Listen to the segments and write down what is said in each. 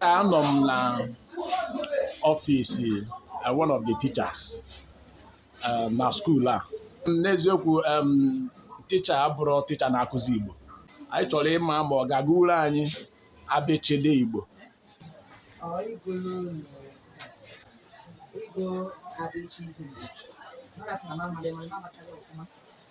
anọ m na ọfịsi uh, one of the teachers uh, na skuul a n'eziokwu um, ticha a bụrụ ticha na-akụzi Igbo anyị chọrọ ịma ma ọ ga-agụrụ anyị abịchịdị Igbo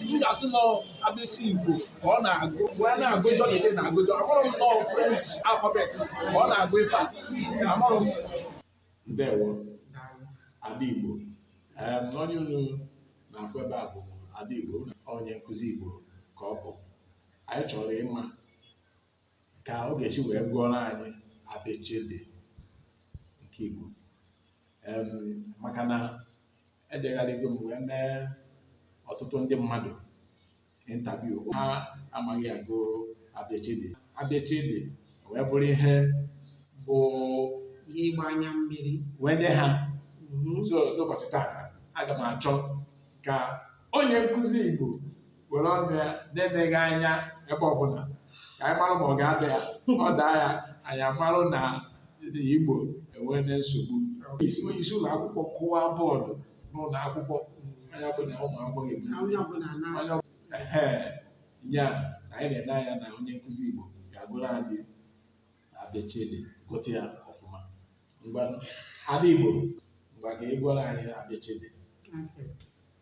m ga-asị na abịchịdị igbo ka ọ na-agụ wee na-agụ jọ na ike na-agụ jọ amarọ m na ọ french alphabet ka ọ na-agụ ife a amarọ m ndewo ada igbo Em, onye unu na-afụ ebe a bụ ada igbo onye nkụzi igbo ka ọ bụ anyị chọrọ ịma ka ọ ga-esi wee gụọrọ anyị abịchịdị nke igbo Em, maka na ejegharịgo m wee mee ọtụtụ ndị mmadụ interview ha amaghị agụ abịchịdị abịchịdị wee bụrụ ihe bụ ịgba anya mmiri wee nye ha so n'ụbọchị taa aga m achọ ka onye nkụzi igbo were ọnụ ya na-eneghị anya ebe ọbụla ka anyị mara ma ọ ga-ada ya ọ daa ya anyị amarụ na Igbo enweena nsogbu isi onye isi ụlọ akwụkwọ kụwa bọọdụ n'ụlọ akwụkwọ anya bụ na ụmụ akwụkwọ ga-ebi na onye ọbụla na onye ọ- ehe, ya na anyị na-ene anya na onye nkụzi Igbo ga-agụrụ anyị abịchịdị gụta ya ọfụma ngwa ada Igbo ngwa ka ị gụọrọ anyị abịchịdị Okay.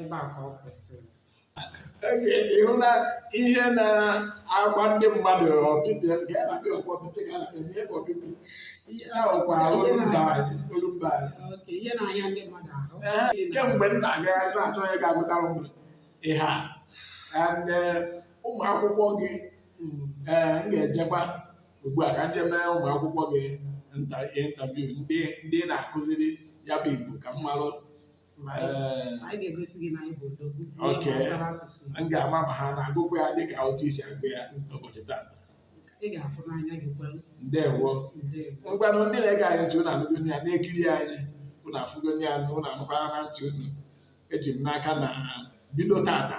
ebe a ka ọ kwụsịrị ị hụna ihe na-agba ndị mmadụ ọpịpị nke a na-akpọ ọkwa ọpịpị ka a na-akpọ ihe bụ ọpịpị ihe ahụ kwa olumba anyị olumba anyị oke ihe na-anya ndị mmadụ ahụ Ee, kemgbe m na-agagharị na-achọ onye ga-agụtara m ihe a and eh, ụmụ akwụkwọ gị mm, eh, m ga-ejekwa ugbu a ka m jee mee ụmụ akwụkwọ gị nta- interview ndị ị na-akụziri ya bụ Igbo ka m marụ Ma anyị- Ee, ma anyị ga-egosi gị na anyị bụ odogwu n'ihe Okay. gbasara asụsụ Igbo. m ga-ama ma ha na-agụkwa ya dịka otu i si agụ ya n'ụbọchị taata ị ga-afụ n'anya gị kwere ndewo ndewo ngwanụ ndị na-ege anyị ntị ụnụ anụgo ya na-ekiri anyị ụnụ afụgo ya ụnụ anụkwarana ntị ụnụ eji m n'aka na bido taata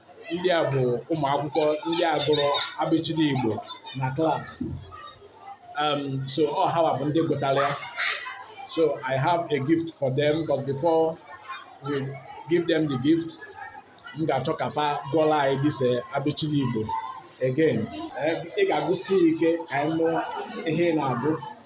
ndị a bụ ụmụ akwụkwọ ndị a gụrụ abịchịdị Igbo na klaasị um, so ọ hawa bụ ndị gụtara ya so I have a gift for them but before we give them the gift m ga-achọ ka fa gụọla anyị this abịchịdị Igbo again eh, ị ga-agụsi ike ka anyị nụ ihe ị na-agụ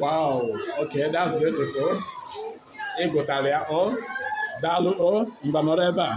Wow, okay, that's beautiful. Ị gụtara ya o daalụ o mba nọrọ ebe a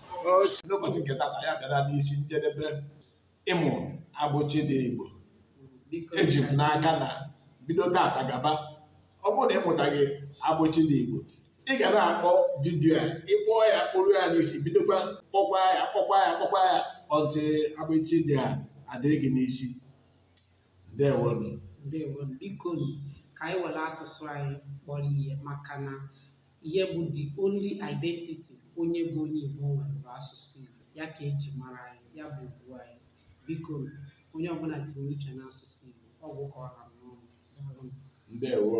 n'ụbọchị nke tata anyị bịara n'isi njedebe ịmụ abịchịdị Igbo eji m n'aka na bido tata gaba ọ bụrụ na ị mụtaghị abịchịdị Igbo ị ga na-akpọ vidiyo a ị kpọọ ya kpọruo ya n'isi bidokwa kpọkwa ya kpọkwa ya kpọkwa ya until abịchịdị a adịrị gị n'isi ndewonu ndewonu biko ka anyị were asụsụ anyị kpọrọ ihe maka na ihe bụ the only identity onye bụ onye Igbo nwere bụ asụsụ Igbo ya ka eji mara anyị ya bụ ugwu anyị biko onye ọbụla tinye uche n'asụsụ Igbo ọ gwụ ka ọ ha m n'ọnụ ndewo